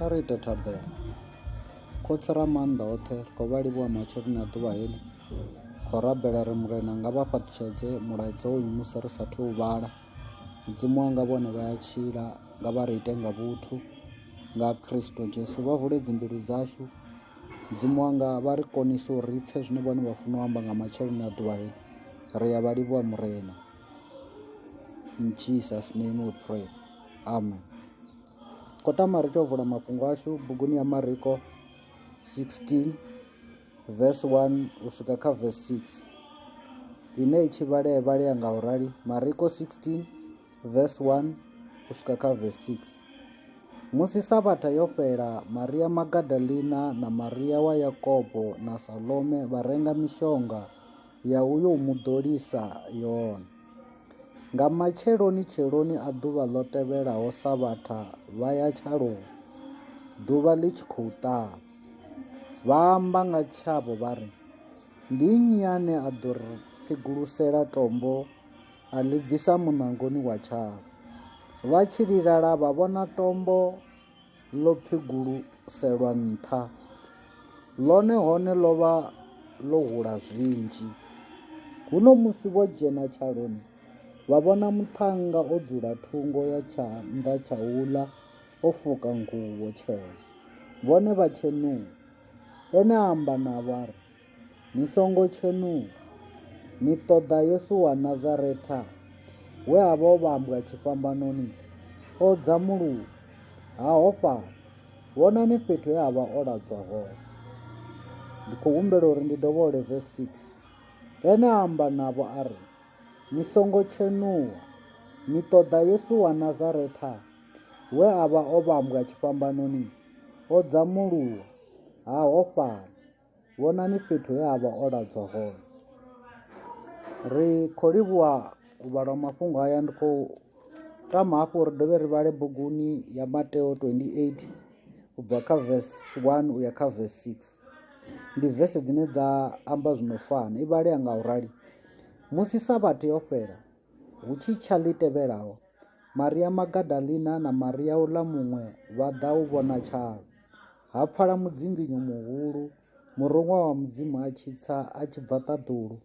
kha ri ite thabelo khotsi ra maanḓa oṱhe ri khou vha livhuwa matsheloni a ḓuvha heḽi khou rabela ri murena nga vha fhaṱutshedze mulaedza uyu musi ri sathu u vhala mudzimu wanga vhone vha ya tshila nga vha ri ite nga vhuthu nga kristo jesu vha vule dzimbilu dzashu mudzimu wanga vha ri konise uri ri pfhe zwine vhone vha funa u amba nga matsheloni a ḓuvha heḽi ri ya vha livhuwa murena in jesus name we pray amen khou tama ri tou vula mafhungo ashu buguni ya mariko 16 vese 1 u swika kha vese 6 ine i tshi vhalea vhalea nga u rali mariko 16 vese 1 u swika kha vese 6 musi sabatha yo fhela maria magadalina na maria wa yakobo na salome vha renga mishonga ya uyo u muḓolisa yone Nga matsheloni-tsheloni a ḓuvha ḽo tevhelaho Savhatha vha ya tshaloni, ḓuvha ḽi tshi khou ṱaha. Vha amba nga tshavho vha ri, Ndi nnyi ane a ḓo ri phigulusela tombo a ḽi bvisa muṋangoni wa tshavho? Vha tshi lilala vha vhona tombo ḽo phiguluselwa nṱha, ḽone hone ḽo vha ḽo hula zwinzhi. Huno musi vho dzhena tshaloni, vha vhona muṱhannga o dzula thungo ya tshanḓa tsha uḽa o fuka nguvho tshena, vhone vha tshenuwa. Ene a amba navho a ri, Ni songo tshenuwa, ni ṱoḓa Yesu wa Nazaretha, we a vha o vhambwa tshifhambanoni, o dzamuluwa, ha hofhala. Vhonani fhethu he a vha o ladzwa hone. Ndi khou humbela uri ndi dovhole verse 6. Ene a amba navho a ri, Ni songo tshenuwa, ni ṱoḓa Yesu wa Nazaretha, we a vha o vhambwa tshifhambanoni, o dzamuluwa, ha hofhala. Vhonani fhethu he a vha o ladzwa hone. Ri khou livhuwa u vhalwa mafhungo aya ndi khou tama hafhu uri dovhe ri vhale buguni ya Mateo 28 u bva kha verse 1 u ya kha verse 6. Ndi vese dzine dza amba zwino fana. I vhalea nga u rali. Musi Sabatha yo fhela, hu tshi tsha ḽi tevhelaho, Maria Magadalina na Maria uḽa muṅwe vha ḓa u vhona tshalo. Ha pfala mudzinginyo muhulu, muruṅwa wa Mudzimu a tshi tsa a tshi bva ṱaḓulu,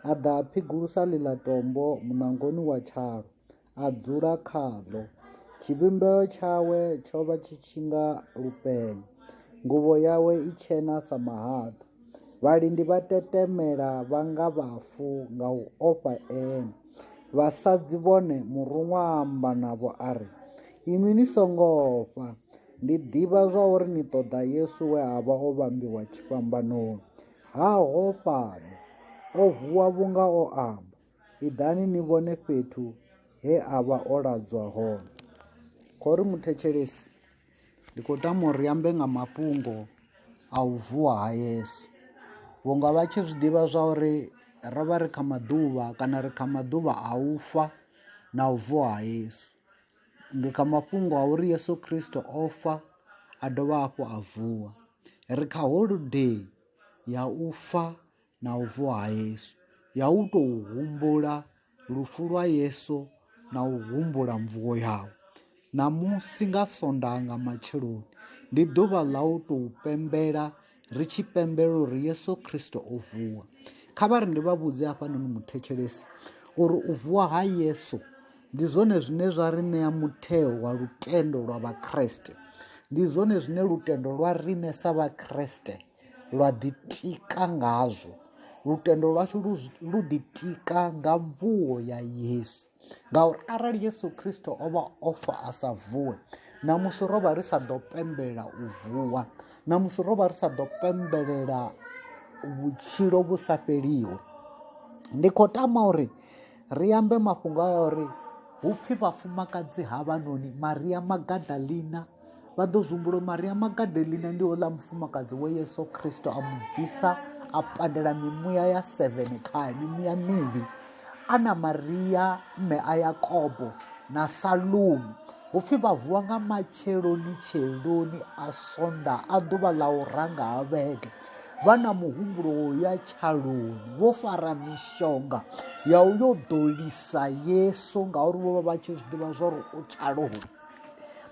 a ḓa a phigulusa ḽiḽa tombo muṋangoni wa tshalo, a dzula khaḽo. Tshivhumbeo tshawe tsho vha tshi tshi nga lupenya, nguvho yawe i tshena sa mahaḓa. Vhalindi vha tetemela vha nga vhafu nga u ofha ene. Vhasadzi vhone muruṅwa a amba navho a ri, Inwi ni songo ofha, Ndi ḓivha zwa uri ni ṱoḓa Yesu we a vha o vhambiwa tshifhambanoni. Ha ho fhano. O vuwa vhunga o amba. Iḓani ni vhone fhethu he a vha o ladzwa hone. Khou ri muthetshelesi, ndi khou tama uri ambe nga mafhungo a u vuwa ha Yesu. Vhunga vha tshi zwi ḓivha zwa uri ro vha ri kha maḓuvha kana ri kha maḓuvha a u fa na u vuwa ha Yesu. ndi kha mafhungo a uri Yesu Kristo o fa a dovha hafhu a vuwa ri kha holodei ya u fa na u vuwa ha Yesu ya u tou humbula lufu lwa Yesu na u humbula mvuwo yawe ṋamusi nga sondaha nga matsheloni ndi ḓuvha ḽa u tou pembela ri tshi pembelela uri yesu kristo o vuwa kha vha ri ndi vha vhudze hafhanoni muthetshelesi uri u vuwa ha yesu ndi zwone zwine zwa ri ṋea mutheo wa lutendo lwa vhakriste ndi zwone zwine lutendo lwa rine sa vhakriste lwa ḓitika ngazwo lutendo lwashu lu ḓitika nga mvuwo ya yesu ngauri arali yesu kristo o vha o fa a sa vuwe namusi ro vha ri sa ḓo pembelela u vuwa namusi ro vha ri sa ḓo pembelela vhutshilo vhu sa fheliho ndi khou tama uri ri ambe mafhungo a uri hu pfhi vhafumakadzi ha vhanoni maria magadalina vha ḓo zwi maria magadelina ndi houḽa mufumakadzi wa yesu kristo a mu bvisa a pandela mimuya ya seven khae mimuya mivhi ana maria mme a yakobo na salumu hu pfhi vha vuwa nga matsheloni tsheloni a sonda a ḓuvha ḽa u ranga ha vhege vha na muhumbulo wo ya tshaloni vho fara mishonga ya u yo ḓolisa yesu ngauri vho vha vha tshi zwi ḓivha zwa uri u tshaloni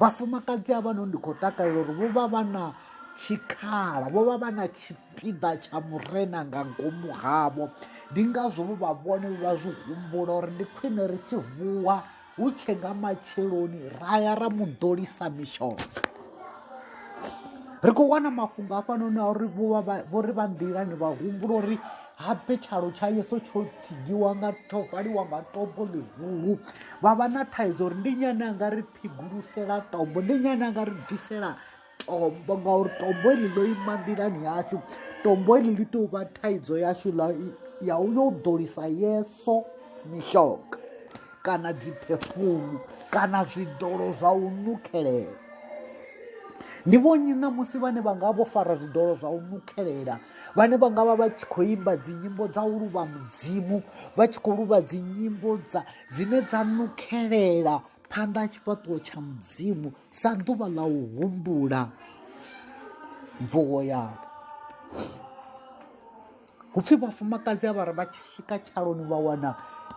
vhafumakadzi a vhano ndi khou takalela uri vho vha vha na tshikhala vho vha vha na tshipiḓa tsha murena nga ngomu havho ndi ngazwo vho vha vhone vha zwi humbula uri ndi khwine ri tshi vuwa hu tshe nga matsheloni ra ya ra mu ḓolisa mishonga ri khou wana mafhungo afhanoni a uri vho ri vha nḓilani vha humbula uri habe tshalo tsha yeso tsho tsigiwa nga tho valiwa nga tombo ḽihulu vha vha na thaidzo uri ndi nyane a nga ri phigulusela tombo ndi nyane a nga ri bvisela tombo ngauri tombo eli ḽo ima nḓilani yashu tombo eli ḽi tou vha thaidzo yashu ya u yo u ḓolisa yeso mishonga kana dziphefumu kana zwiḓolo zwa u nukhelela ndi vhonnyi ṋamusi vhane vha nga vho fara zwiḓolo zwa u nukhelela vhane vha nga vha vha tshi khou imba dzinyimbo dza u luvha mudzimu vha tshi khou luvha dzinyimbo dza dzine dza nukhelela phanḓa ha tshifhaṱuwo tsha mudzimu sa ḓuvha ḽa u humbula mvuwo yavho hupfhi vhafumakadzi a vha ri vha tshi swika tshaloni vha wana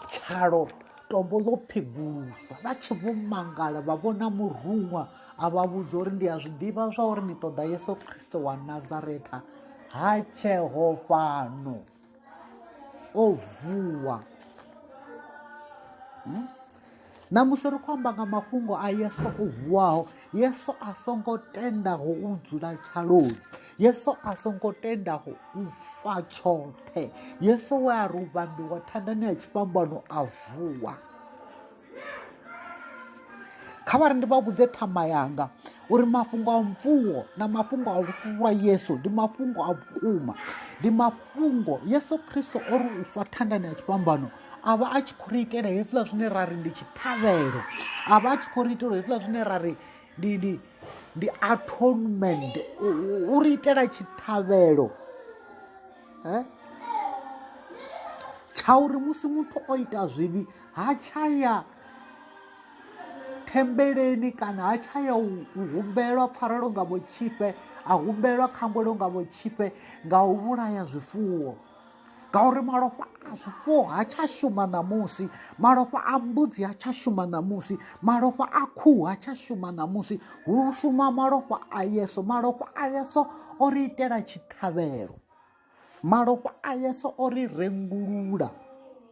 tshalo tombo ḽo pheguluswa vha tshi vho mangala vha vhona muruṅwa a vha vhudza uri ndi a zwi ḓivha zwa uri ni ṱoḓa yesu khristo wa nazareta ha tsheo fhano o vuwa hmm? na musi ri khou amba nga mafhungo a yesu o vuwaho yesu a songo tendaho u dzula tshaloni yesu a songo tendaho u fa tshoṱhe yesu we a ri u vhambiwa thandani ya tshifhambano a vuwa kha vha ri ndi vha vhudze ṱhama yanga uri mafhungo a mvuwo na mafhungo a lufu lwa yesu ndi mafhungo a vhukuma ndi mafhungo yesu khristo o ri u fa thandani ya tshifhambano a vha a tshi khou ri itela hezwiḽa zwine ra ri ndi tshiṱhavhelo a vha a tshi khou ri itela hezwiḽa zwine ra ri ndi ndi ndi atonement u ri itela tshiṱhavhelo eh? tsha uri musi muthu o ita zwivhi ha tsha ya thembeleni kana ha tsha ya u humbelwa pfarelo nga vhotshifhe a humbelwa khambelo nga vhotshifhe nga u vhulaya zwifuwo ngauri malofha zwifuwo ha tsha shuma ṋamusi malofha a mbudzi ha tsha shuma ṋamusi malofha a khuhu ha tsha shuma ṋamusi hu shuma malofha a yeso malofha a yeso o ri itela tshiṱhavhelo malofha a yeso o ri rengulula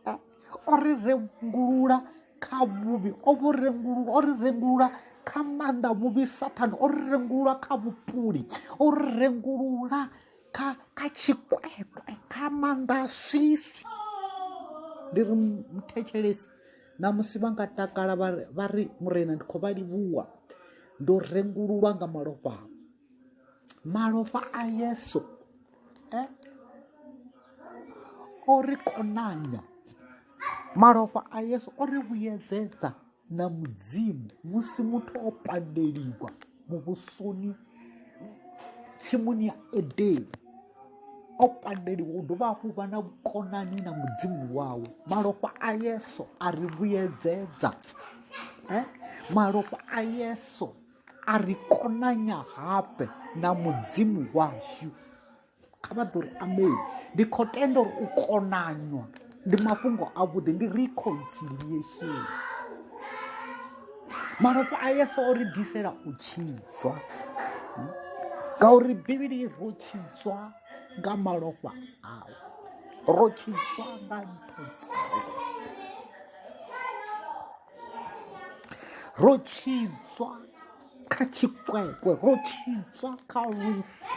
eh, o ri rengulula kha vhuvhi o vhu rengulula o ri rengulula kha maanḓa vhuvhi sathane o ri rengulula kha vhupuli o ri rengulula kha kha tshikwekwe kha maanḓa a swiswi ndi ri muthetshelesi na musi vha nga takala vha ri murena ndi khou vha livhuwa ndo rengululwa nga malofha ao malofha a yesu e o ri konanya malofha a yesu o ri vhuyedzedza na mudzimu musi muthu o pandeliwa muvhusoni tsimuni ya edeni o pandeliwa u dovha hafhu vha na vhukonani na mudzimu wawe malofha a yeso a ri vhuyedzedza eh? malofha a yeso a ri konanya habe na mudzimu washu kha vha ḓo ri amen ndi khou tenda uri u konanywa ndi mafhungo avhuḓi ndi reconciliation malofha a yesu o ri ḓisela u tshidzwa ngauri bivhili ro tshidzwa nga malofha awe ro tshidzwa nga ntho dzawe ro tshidzwa kha tshikwekwe ro tshidzwa kha lufu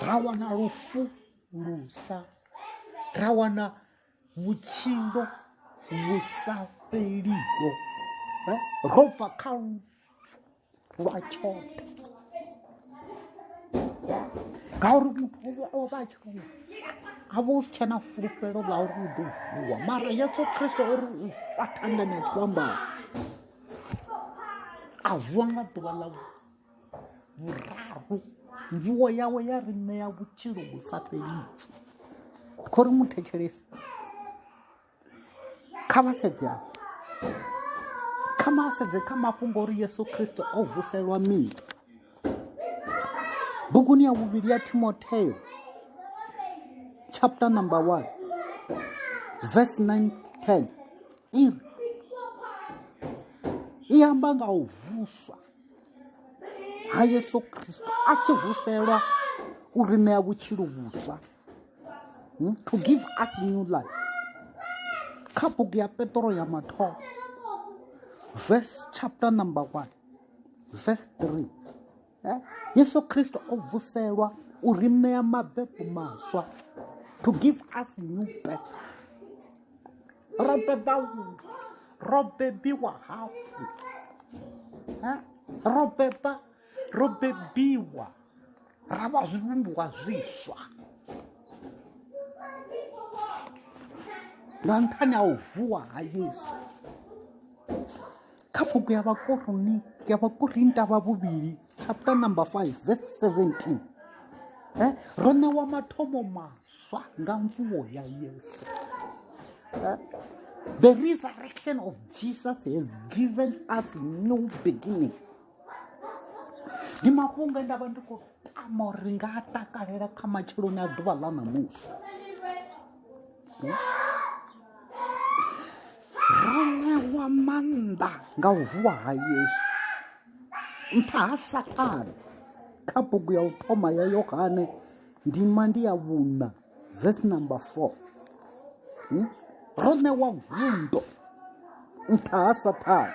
ra wana lufu lusa ra wana vhutshilo vhu sa fheliho eh, ro bva kha lufu lwa tshoṱhe ngauri muthu o vha a tshi tou a vha u si tshena fulufhelo ḽa uri u ḓo vuwa mara yesu kristo uri u fa thanganetsho ambao a vuwa nga ḓuvha ḽa vhuraru mvuwo yawe ya ri ṋea vhutshilo vhu sa fhelii kho ri muthetshelesi kha vha sedze avho kha ma sedze kha mafhungo uri yesu kristo o vuselwa mini buguni ya vhuvhili ya timotheo chapter number 1 verse 9 10 i i amba nga u vuswa ha yesu kristo a tshi vuselwa u ri ṋea vhutshilo vhuswa hmm? to give us new life kha bugu ya petro ya mathomo verse chapter number one verse three eh? yesu kristo o vuselwa u ri ṋea mabebu maswa to give us new birth ro beba ro bebiwa hafhu eh? ro beba ro bebiwa ra vha zwivhumbiwa zwiswa nga nṱhani ha u vuwa ha yesu kha bugu ya vhakoroni ya vhakorinta vha vhuvhili chapter number 5 verse 17 eh ro ṋewa mathomo maswa nga mvuwo ya yesu eh? the resurrection of jesus has given us new beginning ndi mafhungo e nda vha ndi khou tama uri ri nga a takalela kha matsheloni a ḓuvha ḽa ṋamusi ro ṋewa maanḓa nga u vuwa ha yesu nṱha ha sathane kha bugu ya u thoma ya yohane ndima ndi ya vhuṋa vesi number four hmm? ro ṋewa gundo nṱha ha sathane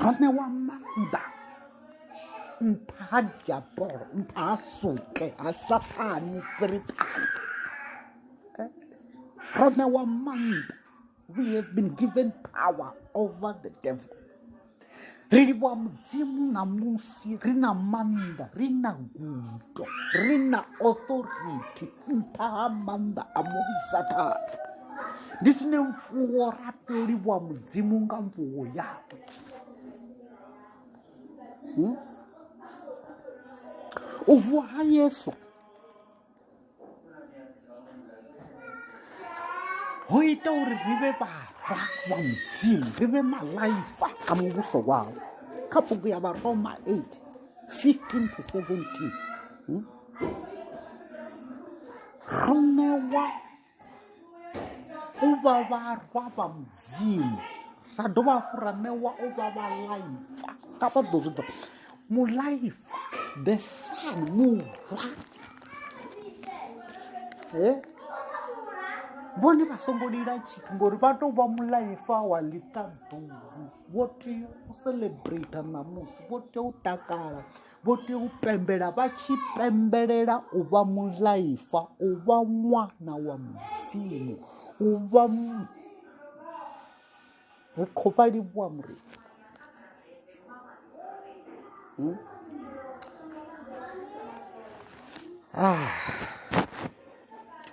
ha ne wa mannḓa nṱha ha diabolo nṱha ha suke ha sathane firiṱana ha ne wa mannḓa we have been given power over the devil ri livhuwa mudzimu ṋamusi ri na maanḓa ri na gudo ri na authority nṱha ha maanḓa a musathana ndi zwine mfuwo ra toliwa mudzimu nga mfuwo yawe hmm? u vuwa ha yesu ho ita uri ri vhe vharwa wa mudzimu ri vhe malaifa a muvhuso wawo kha bugu ya varoma 8 15 to 17 hmm? romewa u vha vharwa vha mudzimu ra dovha hafhu ra ṋewa u vha vhalaifa nga vha ḓo zwi ḓo mulaifa the sun murwa e vhone vha songo lila tshithu ngori vha tou vha mulaifa wa ḽiṱaḓulu vho tea u celebrate ṋamusi vho tea u takala vho tea u pembela vha tshi pembelela u vha mulaifa u vha ṅwana wa mudzimu u vha ri khou vha livhuwa muri hmm? ah.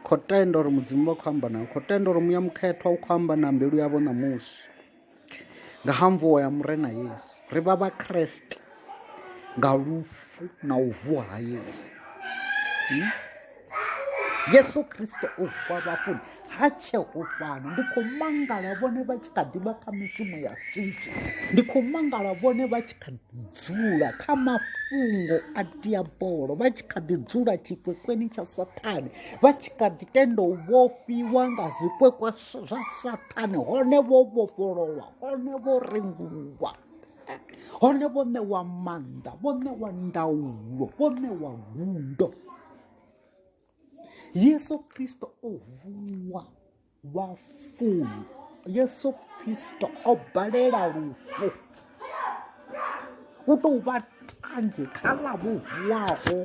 khou tenda uri mudzimu vha khou amba nayo khou tenda uri muya mukhethwa u khou amba na mbilu yavho ṋamusi nga ha mvuwo ya murena yesu ri vha vhakreste nga lufu na u vuwa ha yesu hmm? yesu kriste u vuwa vhafuni ha tsheho fhano ndi khou mangala vhone vha tshi kha ḓivha kha mishumo ya switshi ndi khou mangala vhone vha tshi kha dzula kha mafhungo a diabolo vha tshi kha ḓi dzula tshikwekweni tsha sathane vha tshi kha ḓi tenda u vhofhiwa nga zwikwekwa zwa sathane hone vho vhofhololwa hone vho rengulwa hone vho ṋewa maanḓa vho ṋewa ndaulo vho ṋewa gundo yesu kristo o vuwa vhafuni yesu kristo o balela lufu u tou vha tanzhe kha ḽa vho vuwaho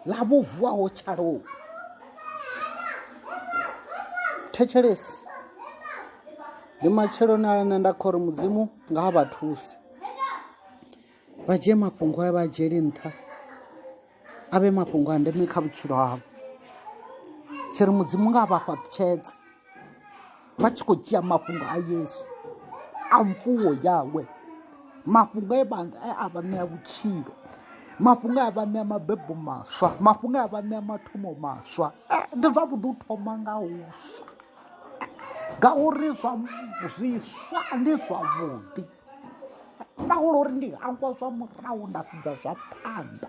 ḽa vho vuwaho tshalou thetshelesi ndi matsheloni a ane nda khori mudzimu nga ha vha thusi vha dzhie mafhungo a vha dzhieli nṱha a vhe mafhungo a ndeme kha vhutshilo havho tshi ri mudzimu nga vha fha tshedze vha tshi khou dzhia mafhungo a yesu a mfuwo yawe mafhungo e a vha ṋea vhutshilo mafhungo a vha ṋea mabebo maswa mafhungo a vha ṋea mathomo maswa eh, ndi zwavhuḓi u thoma nga huswa ngauri zwa zwiswa ndi zwavhuḓi paulo uri ndi hangwa zwa murahu nda sedza zwa phanḓa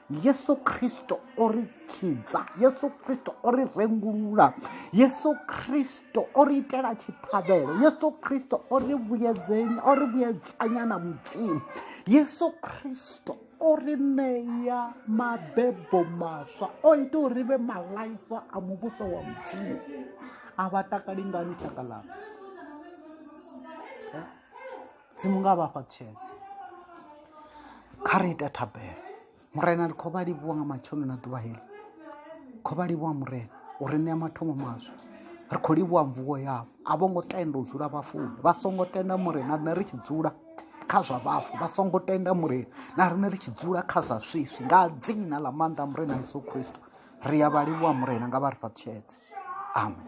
yesu kristo o ri tshidza yesu kristo o ri rengulula yesu kristo o ri itela tshiṱhavhelo yesu kristo o ri vhuyedzenya o ri vhuyedzanya na mudzimu yesu kristo o ri ṋeya mabebo maswa o ita uri ri vhe malaifa a muvhuso wa mudzimu a vha takali ngani tshaka ḽanga si mu nga vha fha tshedze kha ri ita thabelo murena ri khou vha livhuwa nga matshono na ḓuvha heli khou vha livhuwa murena u ri ṋea mathomo maswa ri khou livhuwa mvuwo yavho a vho ngo tenda u dzula vhafuni vha songo tenda murena riṋe ri tshi dzula kha zwa vhafu vha songo tenda murena na riṋe ri tshi dzula kha zwa swiswi nga dzina ḽa maanḓa murena yesu khristo ri ya vha livhuwa murena nga vha ri fha tshedze amen